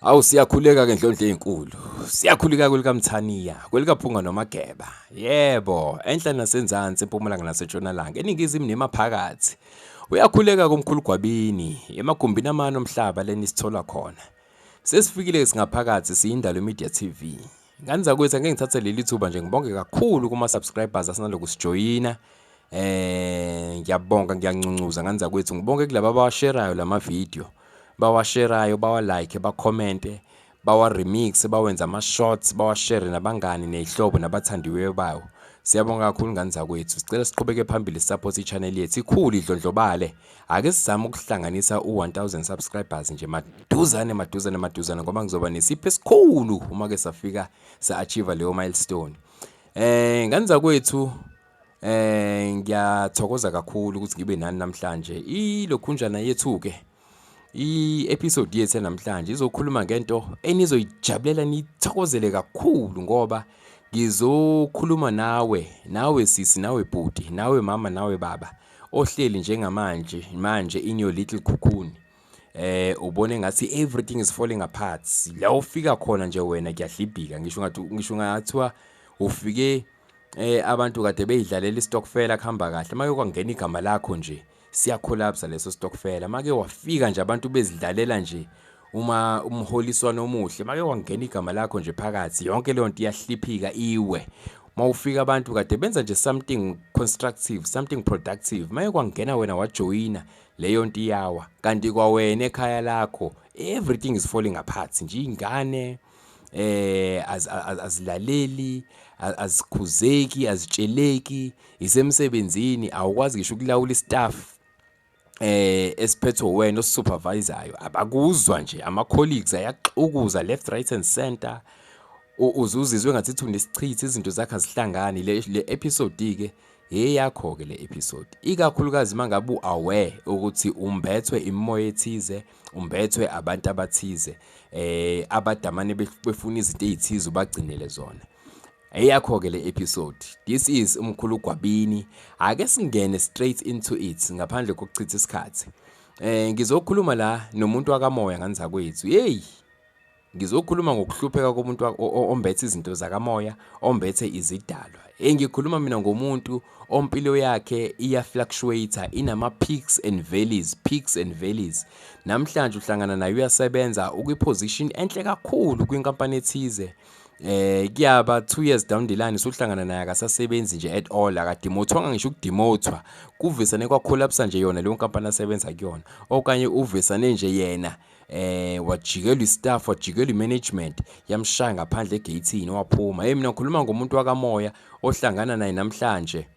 Awu siyakhuleka ke ndlondle ezinkulu. Siyakhuleka kwelikamthaniya, kwelikaphunga nomageba. Yebo, enhla nasenzansi empumalanga nasetshonalanga, eningizimu nemaphakathi. Uyakhuleka komkhulu gwabini, emagumbini amano omhlaba leni sithola khona. Sesifikile singaphakathi siyindalo Media TV. Ngani zakwethu angeke ngithathe leli thuba nje ngibonge kakhulu kuma subscribers asinaloku sijoyina eh ngiyabonga ngiyancuncuzwa ngani zakwethu ngibonge kulabo abawasherayo lama video bawasherayo bawa like bakhomente bawa remix bawenza ama shots bawashere nabangani nezihlobo nabathandiweyo bawo siyabonga kakhulu ngani zakwethu sicela siqhubeke phambili support i channel yethu ikhulu idlondlobale Ake sizame ukuhlanganisa u-1000 subscribers nje maduzane maduzane maduzane ngoba ngizoba nesipho esikhulu uma ke safika sa-achieve leyo milestone. Eh ngani zakwethu eh ngiyathokoza kakhulu ukuthi ngibe nani namhlanje. Ilokhunjana yethu ke i-episode yethu namhlanje izokhuluma ngento enizoyijabulela nithokozele kakhulu ngoba ngizokhuluma nawe nawe sisi nawe bhuti nawe mama nawe baba ohleli njengamanje manje in your little cocoon eh ubone ngathi everything is falling apart la ufika khona nje wena kuyadlibhika ngisho ngathi ngisho ngathiwa ufike eh abantu kade beyidlalela istokfela kuhamba kahle make kwangena igama lakho nje siyacollapse leso stokfela make wafika nje abantu bezidlalela nje uma umholiswa nomuhle make wangena igama lakho nje phakathi yonke leyo nto iyahliphika iwe mawufika abantu kade benza nje something constructive something productive maye kwangena wena wajoyina leyo nto iyawa kanti kwawena ekhaya lakho everything is falling apart nje ingane eh azilaleli azikhuzeki azitsheleki isemsebenzini awukwazi ngisho ukulawula istaff eh esiphethwe wena osupervisayo abakuzwa nje ama colleagues ayaxukuza left right and center uzuzizwe ngathi thu nesichithi izinto zakhe azihlangani le, le episode ke eyakho ke le episode ikakhulukazi mangabe uaware ukuthi umbethwe imimoya ethize umbethwe abantu abathize eh abadamane befuna izinto ezithize ubagcinele zona Eyakho ke le episode. This is umkhulu Gwabini. Ake singene straight into it ngaphandle kokuchitha isikhathi. Eh ngizokhuluma la nomuntu wakamoya nganza kwethu. Hey. Ngizokhuluma ngokuhlupheka komuntu ombethe izinto zakamoya, ombethe izidalwa. Engikhuluma mina ngomuntu ompilo yakhe iya fluctuator inama peaks and valleys, peaks and valleys. Namhlanje uhlangana naye uyasebenza ukwi position enhle kakhulu kwinkampani ethize. eh kuyaba 2 years down the line usuhlangana naye akasasebenzi nje at all akadimothwanga ngisho ukudimothwa kuvisane kwa collapse nje yona leyo nkampani asebenza kuyona okanye uvisane nje yena eh wajikelwa istaff wajikelwa imanagement yamshaya ngaphandle egatini waphuma hey mina ngikhuluma ngomuntu wakamoya ohlangana naye namhlanje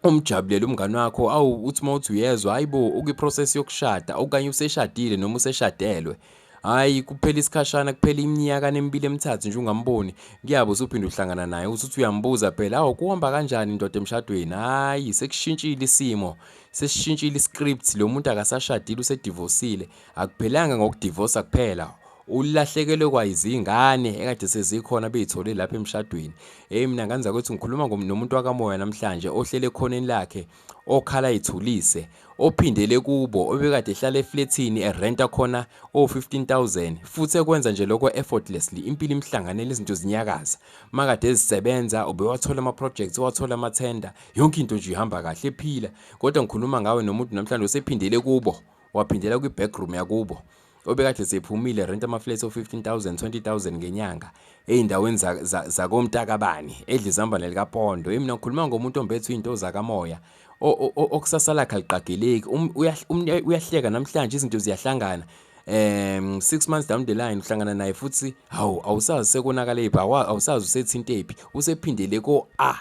umjabulele umngani wakho awu uthi uma uthi uyezwa hayi bo ukwiprocess yokushada okanye useshadile noma useshadelwe hhayi kuphela isikhashana kuphela iminyaka nemibili emithathu nje ungamboni kuyabo usuphinde uhlangana naye usuthi uyambuza phela awu kuhamba kanjani indoda emshadweni hhayi sekushintshile isimo sesishintshile iscript lo muntu akasashadile usedivosile akuphelanga ngokudivosa kuphela Ulahlekelwe kwayizingane ekade sezikhona beyithole lapha emshadweni. Hey mina nganza ukuthi ngikhuluma nomuntu wakamoya namhlanje ohlele ekhoneni lakhe okhala ithulise ophindele kubo obekade ehlala eflethini erenta khona o15000 futhi ekwenza nje lokho effortlessly impilo imhlanganele izinto zinyakaza makade ezisebenza ubewathola ama projects wathola ama tender yonke into nje ihamba kahle ephila kodwa ngikhuluma ngawe nomuntu namhlanje usephindele kubo waphindela kwi backroom yakubo obekade sephumile rent amaflats o-15000 20000 ngenyanga ey'ndaweni zakomntakabani za, za edla izambane likapondo yimi nakhuluma ngomuntu ombethe iy'nto zakamoya okusasa lakhe aliqageleki um, um, uyahleka namhlanje izinto ziyahlangana um six months down the line uhlangana naye futhi hawu awusazi sekonakale phi awusazi usethintephi usephindele ko-a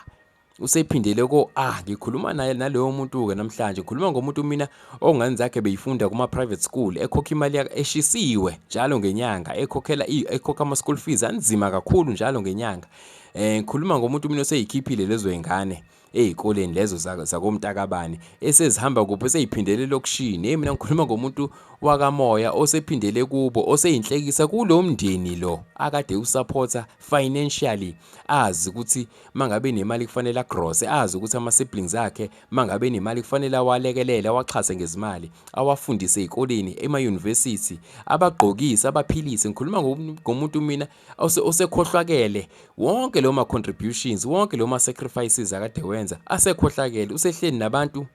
usephindele ko ah ngikhuluma naye naloyo muntu ke namhlanje ngikhuluma ngomuntu mina ongane zakhe beyifunda kuma private school ekhokha imali yakhe eshisiwe njalo ngenyanga ekhokhela ekhokha ama school fees anzima kakhulu njalo ngenyanga eh ngikhuluma ngomuntu mina oseyikhiphile lezo ingane ezikoleni lezo zakomntakabani esezihamba kuphi seyiphindele lokushini hey mina ngikhuluma ngomuntu wakamoya osephindele kubo oseyinhlekisa kulo mndeni lo akade usupporta financially azi ukuthi mangabe nemali kufanele agrose azi ukuthi ama-siblings akhe mangabe nemali kufanele awalekelele awaxhase ngezimali awafundise ey'koleni emayunivesithi abagqokise abaphilise ngikhuluma ngomuntu mina osekhohlwakele wonke leyo ma-contributions wonke leyo ma-sacrifices akade wenza asekhohlakele usehleli nabantu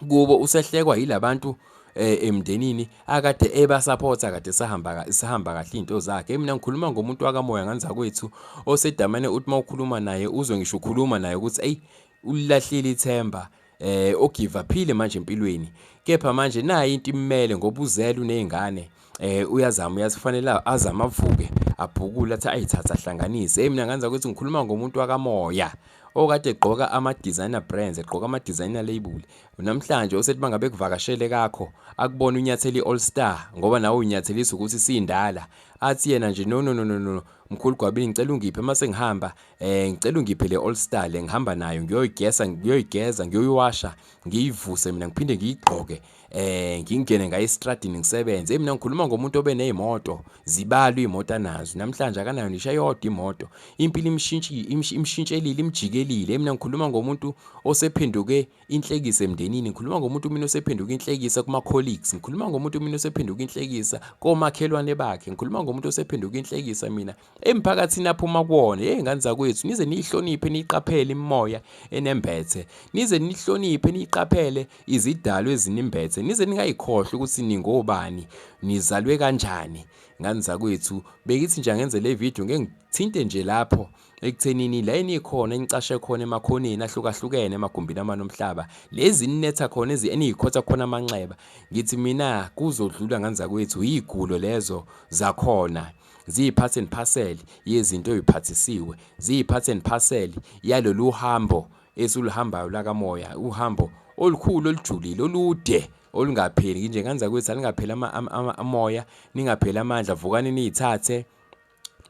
kubo usehlekwa yilabantu eh, emndenini akade ebasapota kade sahamba sahamba kahle izinto zakhe mina ngikhuluma ngomuntu wakamoya nganza kwethu osedamane uthi mawukhuluma naye uzwe ngisho ukhuluma naye ukuthi ey ulilahlile ithemba eh ogive aphile manje empilweni kepha manje nayi into imele ngoba uzele unezingane eh uyazama uyazifanela azama avuke abhukule athi ayithatha ahlanganise hey mina nganza ukuthi ngikhuluma ngomuntu wakamoya okade egqoka ama-designer brands egqoka ama-designer label namhlanje osethi bangabe kuvakashele kakho akubona unyatheli i-all star ngoba nawe unyathelisa ukuthi siyindala athi yena nje no no no no no mkhulu gwabini ngicela ungiphe uma sengihamba eh ngicela ungiphe le all star le ngihamba nayo ngiyoyigesa ngiyoyigeza ngiyoyiwasha ngiyivuse mina ngiphinde ngiyigqoke eh ngingene ngaye estradini ngisebenze hey mina ngikhuluma ngomuntu obe nezimoto zibalwa imoto anazo namhlanje akanayo nisha yodwa imoto impilo imshintshile imshintshelile imjikelile hey mina ngikhuluma ngomuntu osephenduke inhlekisa emndenini ngikhuluma ngomuntu mina osephenduke inhlekisa kuma colleagues ngikhuluma ngomuntu mina osephenduke inhlekisa komakhelwane bakhe ngikhuluma ngomuntu osephenduke inhlekisa mina emphakathini aphuma kuwona hey ngane zakwethu nize niyihloniphe niyiqaphele imimoya enembethe nize nihloniphe niyiqaphele izidalo ezinimbethe nize ningayikhohlwa ukuthi ningobani nizalwe kanjani ngane zakwethu bekithi nje angenze le video ngeke ngithinte nje lapho ekuthenini la enikhona enicashe khona emakhoneni ahlukahlukene emagumbini amane omhlaba lezi ninetha khona ezi eniyikhotha khona amanxeba ngithi mina kuzodlula ngane zakwethu yigulo lezo zakhona ziyi-part and parcel yezinto oyiphathisiwe ziyi-part and parcel yalolu hambo esiluhambayo lakamoya uhambo olukhulu olujulile olude olungapheli nginjenganza kwethu alingapheli amoya ningapheli amandla vukani niyithathe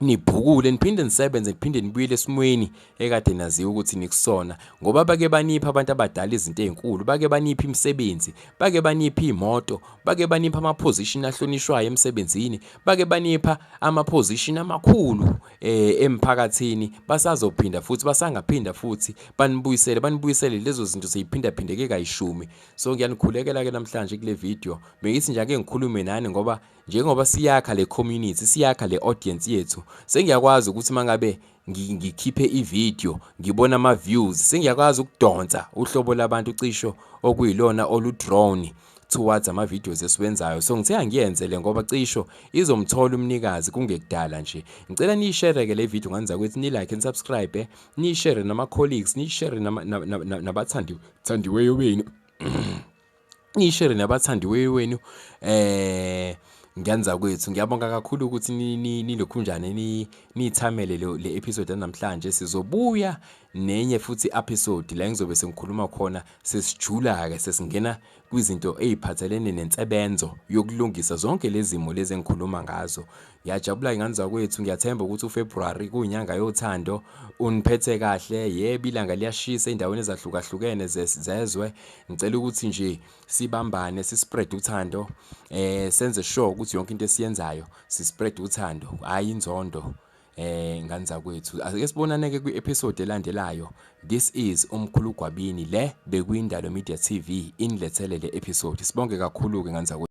nibhukule niphinde nisebenze niphinde nibuyele esimweni ekade naziwa ukuthi nikusona ngoba bake banipha abantu abadala izinto ezinkulu bake banipha imisebenzi bake banipha imoto bake banipha ama position ahlonishwayo emsebenzini bake banipha ama position amakhulu eh emphakathini basazophinda futhi basangaphinda futhi banibuyisele banibuyisele lezo zinto seyiphinda phindeke kayishumi so ngiyanikhulekela ke namhlanje kule video bengithi nje ake ngikhulume nani ngoba njengoba siyakha le community siyakha le audience yethu sengiyakwazi ukuthi mangabe ngikhiphe ivideo ngibona ama views sengiyakwazi ukudonsa uhlobo labantu cisho okuyilona olu drone towards ama videos esiwenzayo so ngithe angiyenze le ngoba cisho izomthola umnikazi kungekudala nje ngicela niyishare ke le video nganza ukuthi ni like and subscribe eh? niyishare nama colleagues niyishare nabathandiweyo benu ngishere nabathandiweyo wenu eh ngiyanza kwethu ngiyabonga kakhulu ukuthi nilokhunjane nithamele le episode yanamhlanje sizobuya nenye futhi episode la ngizobe sengikhuluma khona sesijula ke sesingena kwizinto eziphathelene nensebenzo yokulungisa zonke lezimo lezi engikhuluma ngazo Ngiyajabula ingane zakwethu ngiyathemba ukuthi uFebruary kuyinyanga yothando uniphethe kahle yebo ilanga liyashisa endaweni ezahlukahlukene zezwe ngicela ukuthi nje sibambane sispread uthando eh senze sure ukuthi yonke into esiyenzayo sispread uthando hayi inzondo eh ngane zakwethu ake sibonane ke kwi-episode elandelayo This is umkhulu Gwabini le bekuyindalo media TV inilethele le episode sibonge kakhulu ke nganzakwethu.